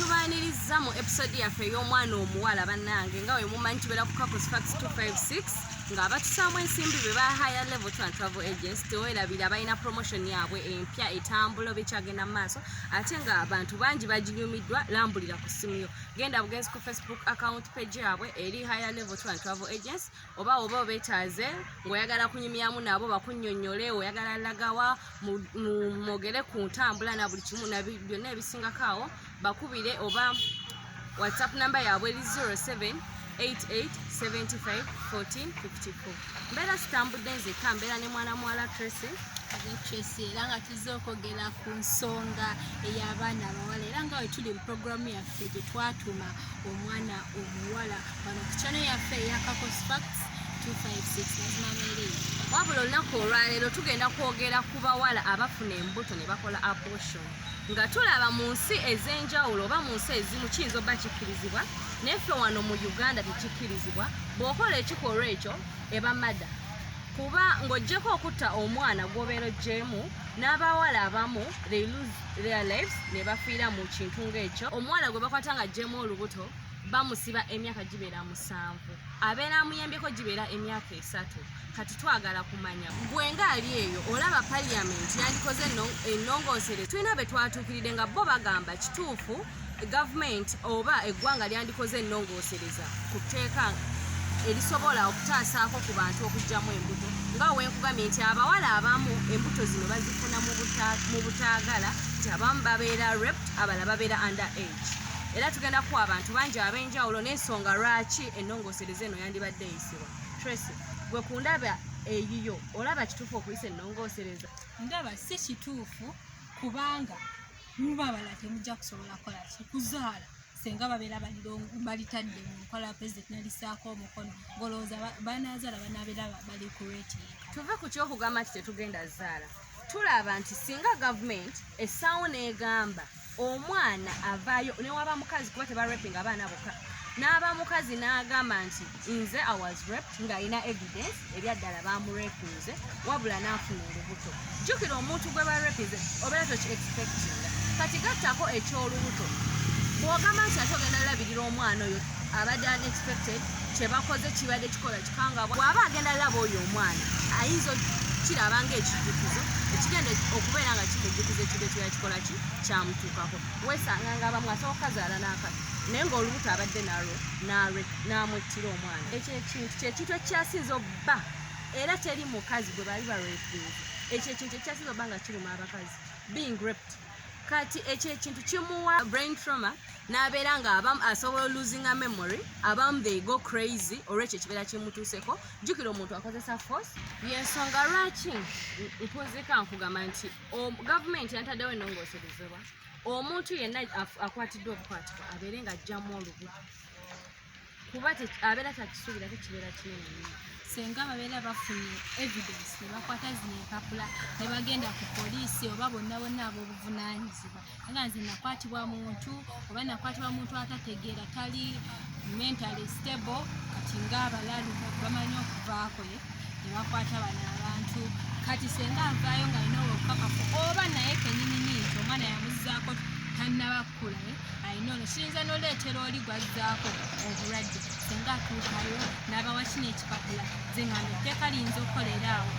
tubaanirizza mu episode yaffe ey'omwana omuwala bannange nga we mumanyi tubeera ku couples fax 256 nga abatusaamu ensimbi be ba higher level tran travel agents tewerabira balina promotion yaabwe empya etambula oba ekyagenda mu maaso ate nga abantu bangi baginyumiddwa lambulira ku ssimu yo genda bugenzi ku facebook account page yaabwe eri higher level tran travel agents oba oba obetaaze ng'oyagala kunyumyamu nabo bakunyonyole oyagala lagawa mwogere ku ntambula na buli kimu byonna ebisingako awo bakubire oba whatsapp namba yaabwe eri 07 88751454 mbeera sitambudde nzekka mbeera ne mwana muwala tracy tracy era nga tuzze okwogera ku nsonga ey'abaana abawala era nga wetuli mu programu yaffe gyetwatuma omwana omuwala wano ku channel yaffe eya Kakos Facts 256 mazima meereyo wabula olunaku olwaleero tugenda kwogera ku bawala abafuna embuto ne bakola abortion nga tulaba mu nsi ez'enjawulo oba mu nsi ezimu kiyinza oba kikkirizibwa naye ffe wano mu uganda tekikkirizibwa bw'okola ekikolwa ekyo eba mada kuba ng'ogyeko okutta omwana gw'obeera ogyemu n'abawala abamu they lose their lives ne bafiira mu kintu ng'ekyo omwana gwe bakwata nga gyemu olubuto bamusiba emyaka gibeera musanvu abeera amuyambyeko gibeera emyaka esatu kati twagala kumanya gwe ngaali eyo olaba parliament yandikoze enongoosere tulina be twatuukiride nga bo bagamba kituufu gavumenti oba eggwanga lyandikoze enongosereza ku tteeka erisobola okutaasaako ku bantu okugyamu embuto nga wenkugamye nti abawala abamu embuto zino bazifuna mu butaagala nti abamu babeera rept abala babeera under age era tugenda kuwa abantu bangi ab'enjawulo n'ensonga lwaki ennongoosereza eno yandibadde eyisibwa tracy gwe ku ndaba eyiyo olaba kituufu okuyisa ennongoosereza ndaba si kituufu kubanga muba abala temujja kusobola kukola ki kuzaala senga babeera balitadde mu nkola ya pulezidenti nalisaako omukono ngolowooza banazaala banabeera bali ku reti tuve ku kyokugamba nti tetugenda zaala tulaba nti singa gavumenti essaawo n'egamba omwana avaayo newaba mukazi kuba tebarepinga abaana boka n'aba mukazi n'agamba nti nze awas rep ng'alina evidence ebyaddala bamurepinze wabula n'afuna olubuto jjukira omuntu gwe barepinze obeera toki expectinga kati gattako eky'olubuto bw'ogamba nti ate ogenda labirira omwana oyo abadde unexpected kyebakoze kibadde kikola kanga bw'aba agenda laba oyo omwana ayinza kiraba ng'ekijjukizo ekigenda okubeera nga kimujjukiza ekintu ekiba kikola ki kyamutuukako weesanga nga abamu asobola okukazaala n'akati naye ng'olubuto abadde nalwo n'amwettira omwana ekyo ekintu kyekintu ekyasinza obba era teri mukazi gwe bali balwetinza ekyo ekintu ekyasinza obba nga kiruma abakazi being raped kati ekyo ekintu kimuwa brain trauma n'abeera nga abamu asobola olusinga memory abamu they go crazy olwekyo ekibeera kimutuuseko jjukira omuntu akozesa force yensonga lwaki nkunzika nkugamba nti gavumenti yantaddewo enongoserezebwa omuntu yenna akwatiddwa obukwatibwa abeere nga ajjamu olubu kuba abeera takisuubira te kibeera kinene nyo senga babeera bafunye evidence nebakwata zino empapula nebagenda ku poliisi oba bonna bonna ab'obuvunanyizibwa aga nze nakwatibwa muntu oba nakwatibwa muntu atategeera tali mentally stable kati ngaabalalu bamanyi okuvaako nebakwata bano abantu kati senga avaayo nga alina obukakafu oba naye kenyinini nti omwana yamuzaako tannabakkula eh? alina ono kiyinza noleetera oli gwazzaako obulwadde senga atuukayo n'abawa kino ekipapula ze nga etteeka liyinza okukolera awo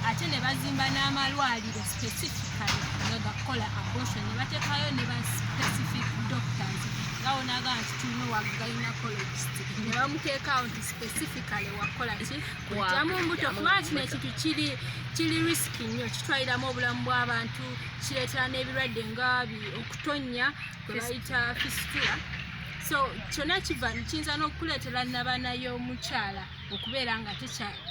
ate ne bazimba n'amalwaliro specifically nga gakukola abortion ne bateekayo ne ba specific doctors nga wonaga nti tulina wa gynecologist ne bamuteekawo specifically wakola ki kujjamu mbuto kuba kino ekintu kiri kiri risiki nnyo kitwaliramu obulamu bw'abantu kireetera n'ebirwadde nga okutonnya kwe bayita fisitula so kyonna kiva kiyinza n'okukuleetera nabana y'omukyala okubeera nga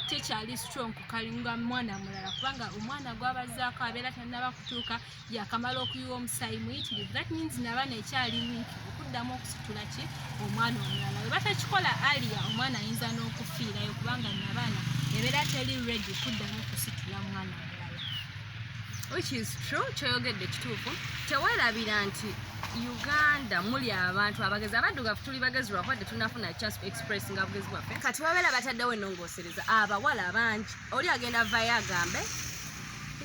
tekyali strong kukalinga mwana mulala kubanga omwana gwabazaako abeera tannaba kutuuka yakamala okuyiwa omusaayi muyitirivu that means nabaana ekyali wiiki okuddamu okusitula ki omwana omulala we batakikola alia omwana ayinza n'okufiirayo kubanga nabaana ebeera teri redi kuddamu okusitula mwana omulala which is true kyoyogedde kituufu tewerabira nti uganda muli abantu abagezi abaddugavu tuli bagezi lwakuwadde tunafuna chance express nga bugezi bwaffe kati babeera bataddewo enongosereza abawala bangi oli agenda vayo agambe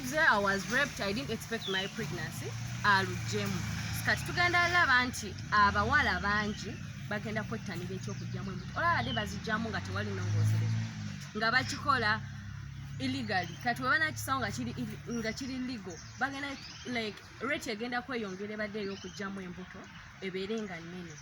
nze i was raped i didn't expect my pregnancy alujjemu kati tugenda laba nti abawala bangi bagenda kwettanira ekyokujjamu embuto olabadde bazijjamu nga tewali nongoozereza nga bakikola illegally kati webanakisawo nga kiri legal bagenda like rate egenda kweyongera ebadde eyokujjamu embuto ebeere nga nnene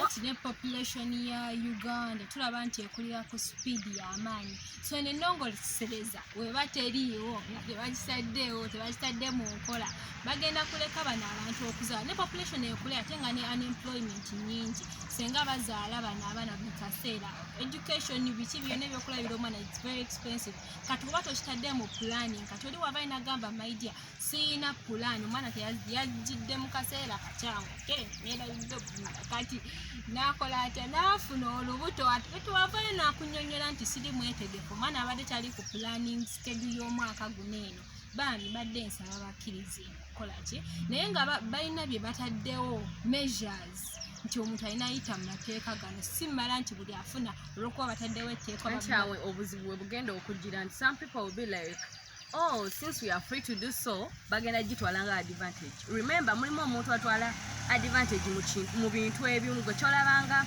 anti ne population ya uganda tulaba nti ekulira ku sipiidi y'amaanyi so eno ennongolisereza weba teriiwo nga tebakisaddeewo tebakitadde mu nkola bagenda kuleka bano abantu okuzaala ne population ekule ate nga ne unemployment nyingi senga bazaala bano abaana buli kaseera education biki byona ebyokulabira omwana its very expensive kati oba tokitadde mu planning kati oli waba inagamba maidia siyina pulaani omwana yajjidde mu kaseera kakyamu ke neerabidde okumala kati naakola atya naafuna olubuto etwavayo naakunyonyola nti siri mwetegefu omwana abadde tali ku planning skedu y'omwaka guno eno bambi badde nsaba bakkirize kukola ki naye nga balina bye bataddewo measures nti omuntu alina ayita mu mateeka gano si mala nti buli afuna olwokuba bataddewo etteeka obuzibu bwe bugenda okugira nti some people will be like Oh, since we are free to do so, bagenda gitwala nga advantage. Remember, mulimu omuntu atwala advantage mu bintu ebimu gwe kyolabanga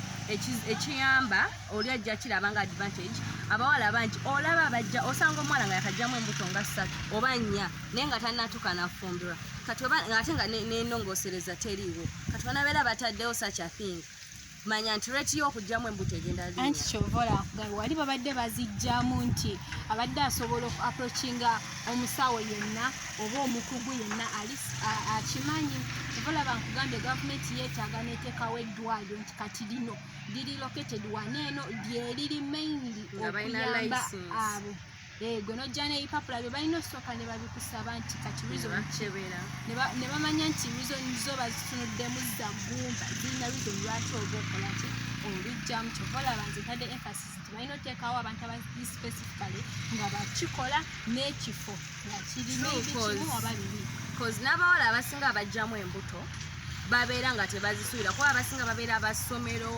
ekiyamba oli ajja kirabanga advantage abawala bangi olaba bajja osanga omuwala nga yakajjamu embuto nga ssatu oba nnya naye nga tanatuuka nafumbirwa kati ate nga nenongosereza teriiwo kati banabeera bataddewo such a thing manya nti rate y'okugyamu embuto egenda anti kyova olakugabe wali babadde bazijjamu nti abadde asobola oku approachinga omusawo yenna oba omukugu yenna akimanyi kyova olaba nkugambye gavumenti yeetaaga neteekawo eddwaliro nti kati lino liri located waneeno lyeriri mainly okuyamba abo Eh, gwe nojja n'ebipapula byo balina osooka ne babikusaba nti kati rizonkyebera ne bamanya nti rizoni zo bazitunuddemu zagumba zirina rizoni lwaki oba okola ki olujjamu kyova olaba nze ntadde emphasis nti balina oteekawo abantu abali specifically nga bakikola n'ekifo nga kirina ebikimu oba bibi bcause n'abawala abasinga abajjamu embuto babeera nga tebazisuubira kuba abasinga babeera basomero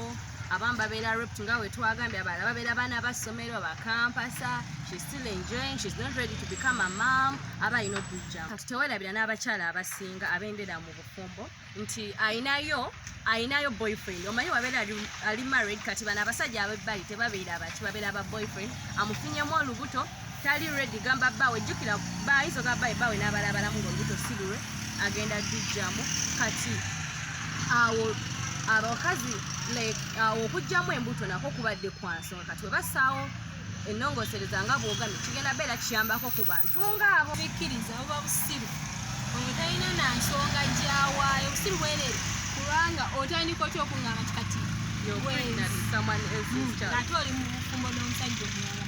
abamu babeera raped nga wetwagambye abalala babeera baana bassomero bakampasa she's still enjoying she's not ready to become a mom aba alina okujjamu kati tewerabira n'abakyala abasinga abendera mu bufumbo nti ayinayo ayinayo boyfriend omanyi wabeera ali married kati bano abasajja abebbali tebabeera baki babeera ba boyfriend amufunyemu olubuto tali redi gamba bawe jukira bayiso ga bawe bawe nabala balamu ngo lubuto silure agenda dijjamu kati awo abakazi like awo okujjamu embuto nako kubadde kwansonga kati webasaawo enongosereza nga bwogamye kigenda beera kiyambako ku bantu ngaabo bikkiriza buba busiru oyo talina na nsonga gyawaayo busiru bwerere kubanga otandika otya okungamba ti kati hmm, ate oli mu bufumbo n'omusajja omulala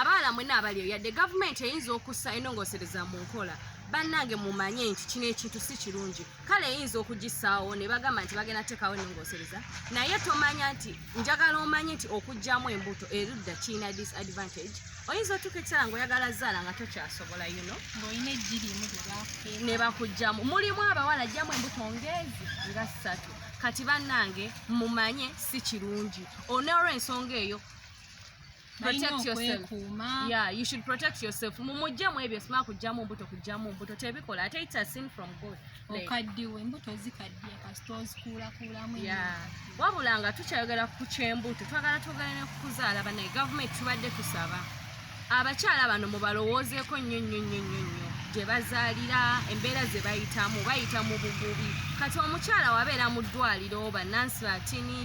abawala mwena abaliyo yadde gavumenti eyinza okussa enongosereza mu nkola bannange mumanye nti kino ekintu si kirungi kale eyinza okugisaawo ne bagamba nti bagenda teekawo enongosereza naye tomanya nti njagala omanye nti okugyamu embuto erudda kirina disadvantage oyinza otuuka ekiseera ngaoyagala zaala nga tokyasobola yuno ngaolina ejjirimu ne bakugyamu mulimu abawala jjamu embuto ngeezi nga ssatu kati bannange mumanye si kirungi oneolwensonga eyo protect yourself yeah you should protect yourself mumujjamu ebyo sima kujjamu mbuto kujjamu mbuto tebikola ate it's a sin from god okaddiwe embuto zikaddiye kasita ozikuulakuulamu yeah wabula nga tukyayogera ku kyembuto twagala twogera ne kukuzaala banaye gavumenti tubadde tusaba abakyala bano mubalowoozeeko nnyo nnyo nnyo nnyo nnyo gye bazaalira embeera ze bayitamu bayita mu bugubi kati omukyala wabeera mu ddwaliro bannansi batini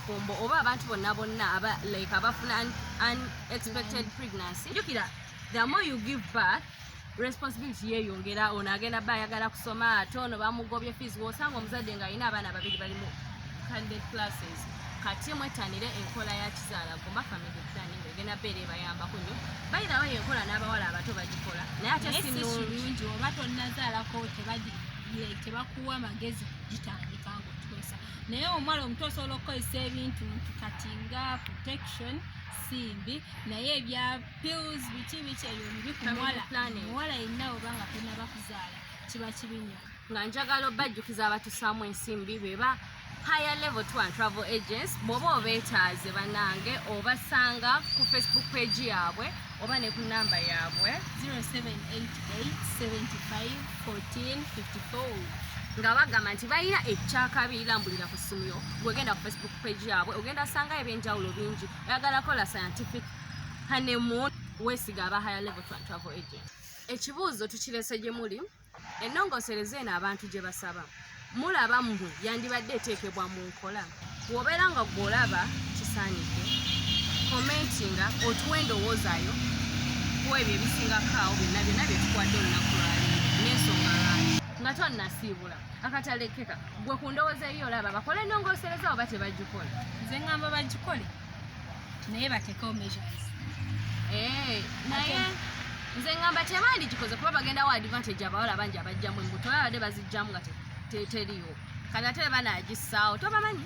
fumbo oba abantu bonna bonna aba like abafuna an, an expected pregnancy jukira the more you give birth responsibility yeyongera ono agenda ba ayagala kusoma ate ono bamugobye fees wosanga omuzadde nga alina abaana babiri bali mu candidate classes kati mwetanire enkola ya kizaala gomba family planning egenda beera ebayambako nyo bayirawo yenkola n'abawala abato bagikola naye ate sinungi oba tonazaalako tebakuwa magezi gitandika ngaotukozesa naye omuwala omuto osobola okukozesa ebintu nti kati nga protection simbi naye ebya pills biki biki ebyo bibi ku muwala omuwala yenna oba nga tonaba kuzaala kiba kibi nyo nga njagala obajjukiza abatusaamu ensimbi beba higher level tour and travel agents bwoba obeetaaze banange obasanga ku facebook page yaabwe oba ne ku namba yaabwe 0788751454 nga bagamba nti balina ekyakabi lambulira ku ssimu yo gwegenda ku facebook page yaabwe ogenda sangayo ebyenjawulo bingi oyagala kola scientific hanemoon wesiga aba higher level travel agent ekibuuzo tukirese gye muli ennongosereza eno abantu gye basaba mulaba mmwe yandibadde eteekebwa mu nkola wobeera nga gwolaba kisaanidde komentinga otuwa endowoozayo ku ebyo ebisingako awo byonna byonna bye tukwadde olunaku lwaleero n'ensonga lwaki nga tonnasiibula akatalekeka gwe ku ndowooza eyo olaba bakole ennongosereza oba tebagikole nze ngamba bagikole naye batekewo measures eh, naye nze ngamba tebandigikoze kuba bagenda wa advantage abawala bangi abajjamu embuto babadde bazijjamu nga teriyo kati ate banagisaawo tobamanyi